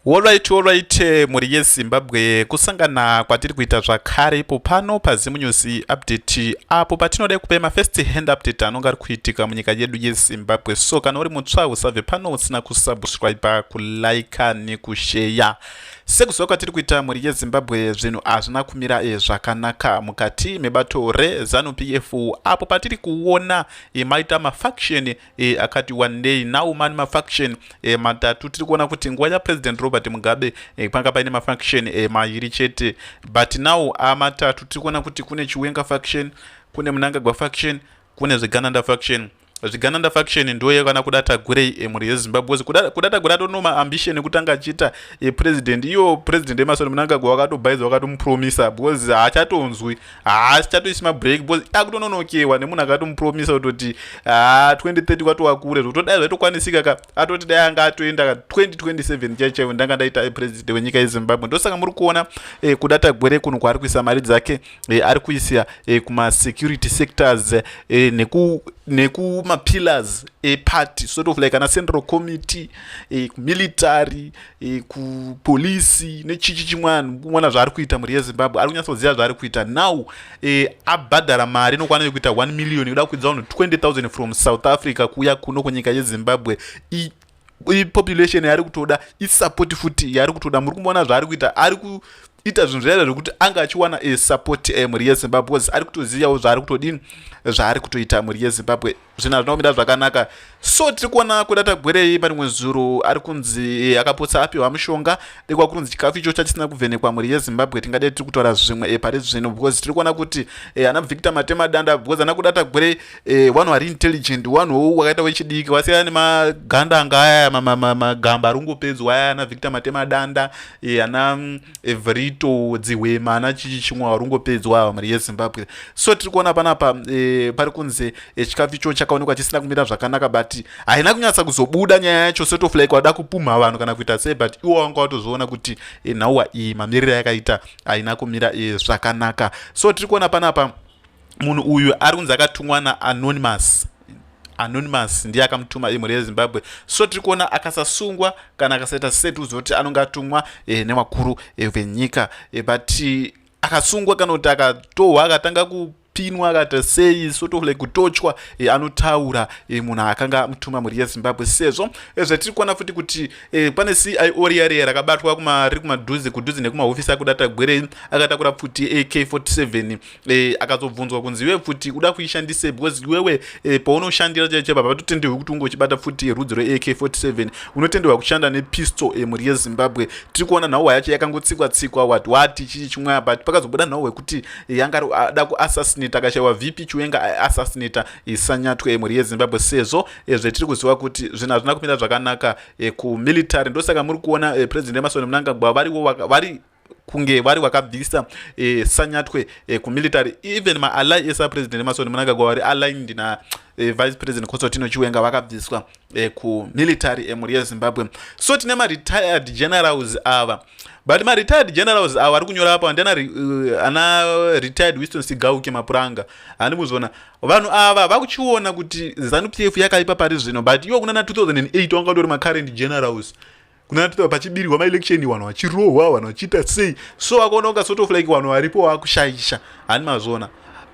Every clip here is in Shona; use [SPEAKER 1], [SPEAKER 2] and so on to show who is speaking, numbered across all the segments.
[SPEAKER 1] Olright olright mhuri yeZimbabwe kusangana kwatiri kuita zvakare ipo pano paZim News update apo patinoda kupa ma first hand update anonga ari kuitika munyika yedu yeZimbabwe so kana uri mutsva usabve pano usina kusubscribe kulike nekusheya sekuziva kwatiri kuita mhuri yeZimbabwe zvinhu hazvina kumira e, zvakanaka mukati mebato reZanu PF apo patiri kuona e, maita mafaction e, akati wandei now mani mafaction e, matatu tiri kuona kuti nguva yapresident robert mugabe e, panga paine mafaction e, mairi chete but now amatatu tiri kuona kuti kune chiwenga faction kune munangagwa faction kune zvegananda faction zvigananda faction ndoye kana kuda tagurei emhuri eh, yezimbabwe wose kuda tagura atonoma ambition ekutanga achiita eh, president iyo president emasoni munangagwa wakatobhaiza wakatomupromisa because haachatonzwi haa sichatoisi mabreak bcause akutononokewa nemunhu akatomupromisa kutoti haa 2030 kwatova kure zvokutodai zvaitokwanisika ka atoti dai anga atoenda ka 2027 chai chaivo ndanga ndaita eh, president wenyika yezimbabwe ndosaka muri kuona eh, kuda tagwere kunhu kwaari kuisa mari dzake eh, ari kuisa eh, kumasecurity sectors eh, neku nekumapillars epart sort of like ana central committee eh, military e, kupolisi nechichi chimwana mwana zvaari kuita mhuri yezimbabwe ari kunyatsoziva zvaari kuita now e, abhadhara mari inokwana yekuita 1 million yoda kukwidza vanhu 20000 from south africa kuuya kuno kunyika yezimbabwe I, ipopulation yaari kutoda isapoti futi yaari kutoda muri kumboona zvaari kuita ari ku ita zvinhu zvaida zvekuti anga achiwana e, support e, mhuri yezimbabwe bcause ari kutozivawo zvaari kutodini zvaari kutoita mhuri yezimbabwe zvinhu hazvina kumira zvakanaka so tiri kuona kuda tagwerei pane mwezuru ari kunzi akapotsa apiwa mushonga dekwa kunzi chikafu icho chachisina kuvhenekwa mhuri yezimbabwe tingadei tiri kutaura zvimwe eh, pari zvino because tiri kuona kuti eh, ana victor matema danda because ana kuda tagwerei eh, vanhu vari intelligent vanhu hou wakaita wechidiki vasiyana nemaganda anga aya magamba arungopedzwa aya ana victor matema danda ana mm, evrito dzihwema ana chichi chimwe varungopedzwa ava mhuri yezimbabwe so tiri kuona panapa e, pari kunzi e, chikafu icho chakaonekwa chisina kumira zvakanaka but haina kunyatsa kuzobuda nyaya yacho sort of like wada kupumha vanhu kana kuita sei but iwo wanga watozviona kuti e, nhauwa iyi mamiriro yakaita haina kumira e, zvakanaka so tiri kuona panapa munhu uyu ari kunzi akatumwa naanonymous anonymous ndiye akamutuma imhuri yezimbabwe so tiri kuona akasasungwa kana akasaita seti uzoti anonge atumwa e, newakuru e, venyika e, but akasungwa kana kuti akatohwa akatanga ku kupinwa akaita sei sort of like kutochwa e, anotaura e, munhu akanga amutuma mhuri yezimbabwe sezvo e, zvatiri kuona futi kuti e, pane cio riyareya rakabatwa riri kumadhuze kudhuze nekumahofisi akuda tagwerei akatakura pfuti ak 47 e, akazobvunzwa kunzi iwe pfuti uda kuishandisei because iwewe e, paunoshandira chaicho baba vatotendewi kuti unge uchibata futi yerudzi reak47 unotendewa kushanda nepistol emhuri eh, yezimbabwe tiri kuona nhauwa yacho yakangotsikwa tsikwa wat wati chii chimwe but pakazobuda nhauwa yekuti eh, yanga ada kuassassinata akashaiwa vp chiwenga aasassinata isanyatwe emhuri eh, yezimbabwe sezvo zvetiri kuziva kuti zvinhu hazvina kumira zvakanaka kumilitary ndosaka muri kuona president emasoni munangagwa variwo vari kunge vari vakabvisa eh, sanyatwe eh, kumilitary even maally esa president emasoni munangagwa vari aligned na eh, vice president kosotino chiwenga vakabviswa eh, kumilitary emhuri eh, yezimbabwe so tine maretired generals ava but maretired generals ava ari kunyora apa ndiana uh, ana retired wiston sigauke mapuranga handi kuzona vanhu ava vakuchiona kuti zanupf yakaipa pari zvino but iwo kunana 2008 wanga utori macurrent generals kunati pachibirirwa maelection vanhu vachirohwa vanhu vachiita sei so wakaona kunga sort of like vanhu varipo vakushaisha hani mazona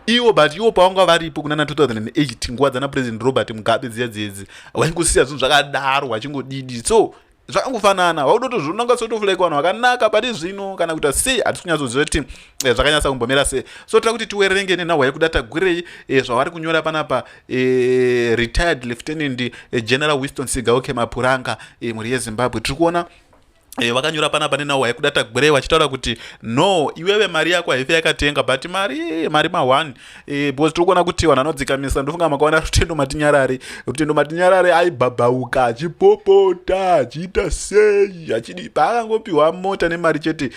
[SPEAKER 1] iwo but iwo pavanga varipo kunana 2008 nguva dzana president robert mugabe dziya dzedzi vaingosiya zvinhu zvakadaro vachingodidi so zvakangofanana vakutotozviona kunga sort of like vanhu vakanaka pari zvino kana kuita sei hatisi kunyatsoziva kuti eh, zvakanyatsa kumbomira sei so tira kuti tiwerenge nenhahwa yekuda tagurei eh, zvavari kunyora panapa e, retired lieutenant e, general winston sigaoke mapuranga e, mhuri yezimbabwe tiri kuona Eh, vakanyora panapa nenawo haikuda tagwirei vachitaura kuti no iwewe mari yako haife yakatenga but mari mari ma1 eh, because tiri kuona kuti vanhu anodzikamisa ndofunga makaona rutendo matinyarare rutendo matinyarare aibhabhauka achipopota achiita sei achidi paakangopiwa mota nemari chete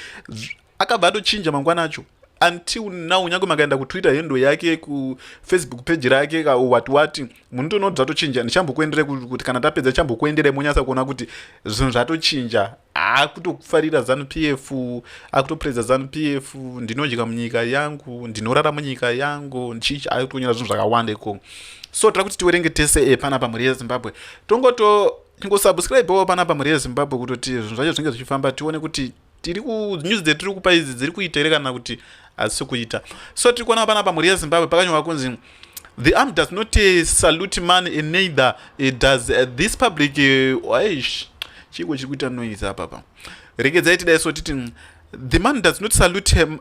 [SPEAKER 1] akabva atochinja mangwana acho until now nyange makaenda kutwitter hendo yake kufacebook page rake wati wati munotoona kuti zvatochinja ndichambokuendere kuti kana tapedza chambokuendere monyasa kuona kuti zvinhu zvatochinja akutofarira zanu p f akutopreza zanu p f ndinodya munyika yangu ndinorara munyika yangu ndichichi akutonyora zvinhu zvakawanda ikoko so tira kuti tiwerenge tese epana eh, pamhuri yezimbabwe tongoto tingosubscribewo panapa mhuri yezimbabwe kutoti zvinhu zvacho zvinge zvichifamba tione kuti tiri ku news dzetiri kupa idzi dziri kuita here kana kuti hadzisi kuita so tiri kuona panapa mhuri yezimbabwe pakanyorwa kunzi the arm does not uh, salute man and neither uh, does uh, this public uh, aish chiiko chiri kuita noise apapa regedzai tidai so titi mm, the man does not salute him,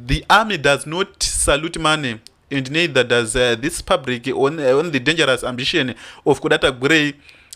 [SPEAKER 1] the army does not salute money and neither does uh, this public on, uh, on the dangerous ambition of kudata gurei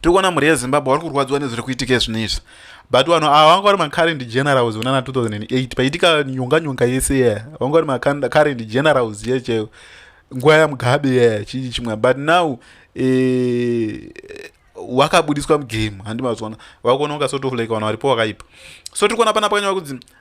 [SPEAKER 1] tiri kuona mhuri yezimbabwe vari kurwadziwa nezviri kuitika zvinhu izvi but vanhu ava vanga vari macurrent generals unana 2008 paitika nyonga nyonga yese ye vanga vari macurrent generals ye cheo nguva yamugabe ye chii chimwe but now eh, wakabudiswa mugame handi mazvona vakuona unga sort of like vanhu varipo vakaipa so tiri kuona pana pakanyova kunzi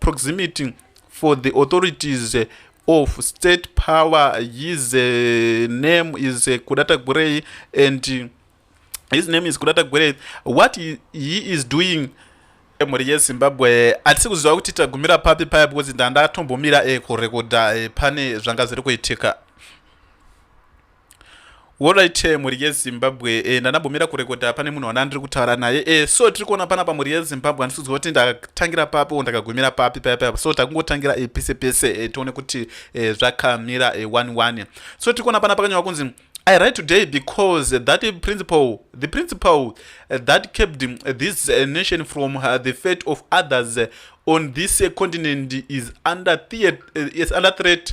[SPEAKER 1] proximity for the authorities of state power his uh, name is uh, kudata gurei and uh, his name is kudata gurei what he, he is doing mhuri yezimbabwe hatisi kuziva kuti tagumira papi paya because ndandatombomira eh, kurekodha eh, pane zvanga zviri kuitika Alright eh, mhuri yeZimbabwe eh, ndanabomira kurekoda pane munhu wana ndiri kutaura naye eh, so tiri kuona pana pamhuri yeZimbabwe handisiudzwa kuti ndakatangira papi or ndakagumira papi paya paya so takungotangira eh, pese pese eh, tione kuti eh, zvakamira eh, one one so tiri kuona pana pakanyorwa kunzi I write today because that principle, the principle uh, that kept um, this uh, nation from uh, the fate of others on this continent is under, theat- is under threat.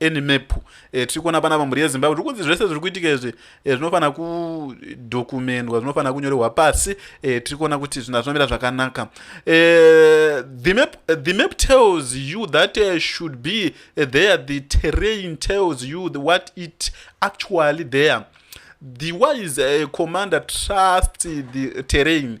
[SPEAKER 1] any map eh, tiri kuona panapa mhuri yezimbabwe tiri kunzi zvese zviri kuitika izvi eh, zvinofanira kudokumendwa zvinofanira kunyorerwa pasi eh, tiri kuona kuti zvinhu zvinomira zvakanaka eh, the, map, the map tells you that uh, should be uh, there the terrain tells you the, what it actually there the wise uh, commander trusts the terrain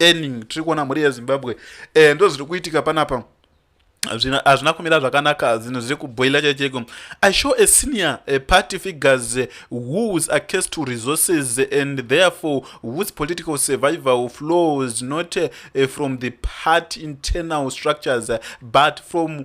[SPEAKER 1] earning tiri kuona mhuri yezimbabwe eh, ndo zviri kuitika panapa hazvina kumira zvakanaka zvinhu zviri kubhoila chaicheko i show a senior a party figures whos are case to resources and therefore whose political survival flows not eh, from the party internal structures but from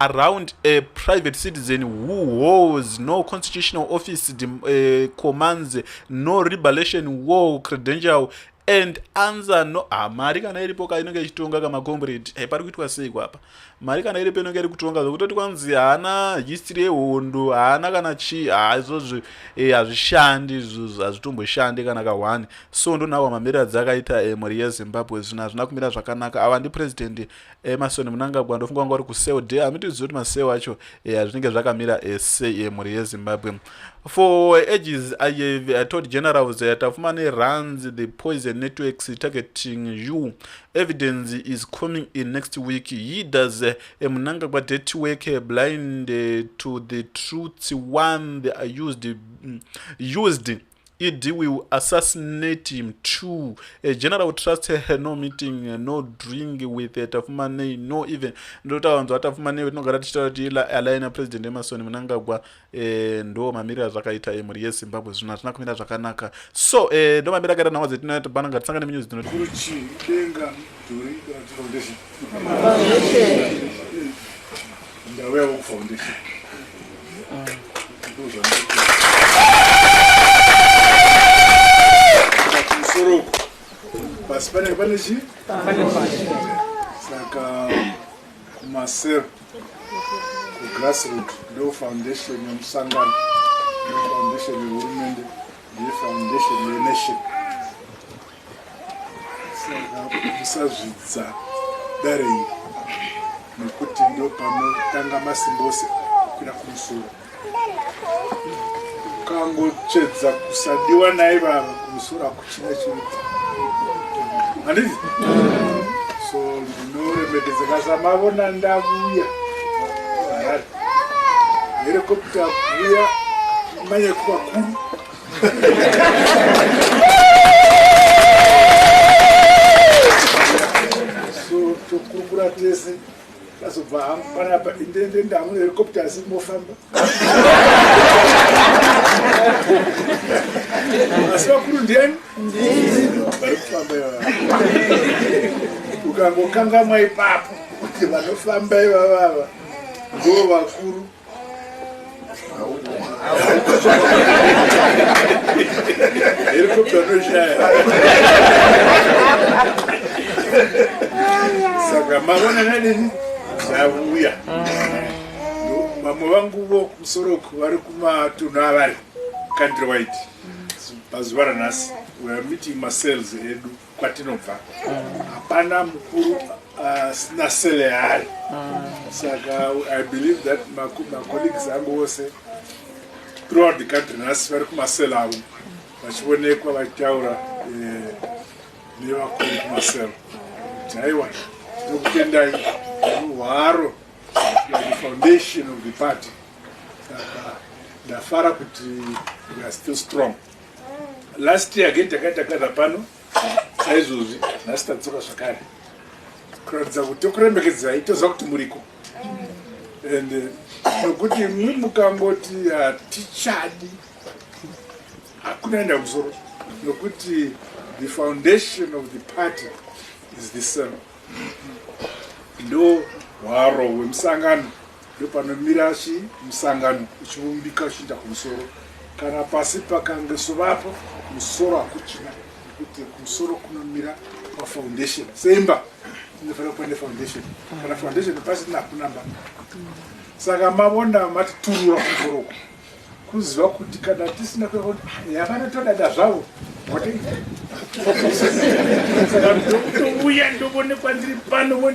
[SPEAKER 1] around a private citizen who holds no constitutional office uh, commands no rebelation war credential and answer no ah, mari kana iripo ka inenge ichitonga kamacombrade hey, eh, pari kuitwa sei kwapa mari kana iripo inenge iri kutonga zvokutoti kwanzi haana history yehondo haana kana chii ha ah, izvozvo eh, hazvishandi hey, izvozvo hazvitomboshandi kana ka one so ndonawa mamirira dzakaita hey, eh, mhuri yezimbabwe zvino hazvina kumira zvakanaka ava ndipresident Emerson Mnangagwa ndofunga wanga uri kuseo de hamitizivi kuti maseo acho eh, azvinenge zvakamira eh, sei eh, mhuri yezimbabwe for ages i have i told generals that tafumane runs the poison networks targeting you evidence is coming in next week he does eh, a mnangagwa dirty work eh, blind eh, to the truth one they are used, mm, used ED will assassinate him too. A general trust her, no meeting, no drink with Tafumanei, no even. Ndota wanzo wa Tafumanei wetinogara tichitaura kuti ila aligner president Emerson Mnangagwa eh, ndo mamirira zvakaita emhuri ye Zimbabwe zvino hatina kumira zvakanaka. So eh, ndo mamira akaita nhau dzetinoya tibana ngatisangane munews dzinoti. Kuruchi denga dhuri kana
[SPEAKER 2] kuti foundation. Ndauyawo kufoundation. Kumusoro uko. Pasi pane pane chi? Pane pasi. Saka kumasero kugrassroot ndo foundation yemusangano ndo foundation yehurumende ndiye foundation yenation musazvidza dare iri nekuti ndopanotanga masimba ose kukwira kumusoro ukangotsvedza kusadiwa naye vava kumusoro hakuchina chinoita handizi so ndinoremekedzeka samavona ndavuya harari herekopita vuya manyakuvakuru so tokurukura tese azobva hangu panapa indende ndamu helicopter asi mofamba asi vakuru ndiani vari kufamba ivava ukangokangamwa ipapo kuti vanofamba ivavava ndoo vakuru Helicopter no shaya. Saka mavona nani savuya. Vamwe vangu vo kusoroku vari kumatunhu avari country wide. Pazuva ranhasi we are meeting masales edu. kwatinobva hapana mukuru asina uh, sele yaari saka i believe that macolleagues angu ose throughout the country nhasi vari kumasele avo vachionekwa vachitaura eh, nevakuru kumasele kuti aiwa ndokutendai hwaro the foundation of the party ndafara kuti we are still strong last year again takaita kana pano saizvozvi nhasi tadzoka zvakare kuratidza kuti tokurembekedzai toziva kuti muriko and eh, nokuti mwi mukangoti hatichadi hakuna enda musoro nokuti the foundation of the party is the same ndo hwaro hwemusangano ndopanomira chi musangano uchivumbika uchiinda kumusoro kana pasi pakange sovapo musoro hakuchina nekuti kumusoro kunomira pafoundation semba inofanira kuva nefoundation kana foundation pasina hakunamba saka mavona mati turura kumusoro uku kuziva kuti kana tisina kuyakuti yavanotodada zvavo saka ndokutouya ndovonekwa ndiri pano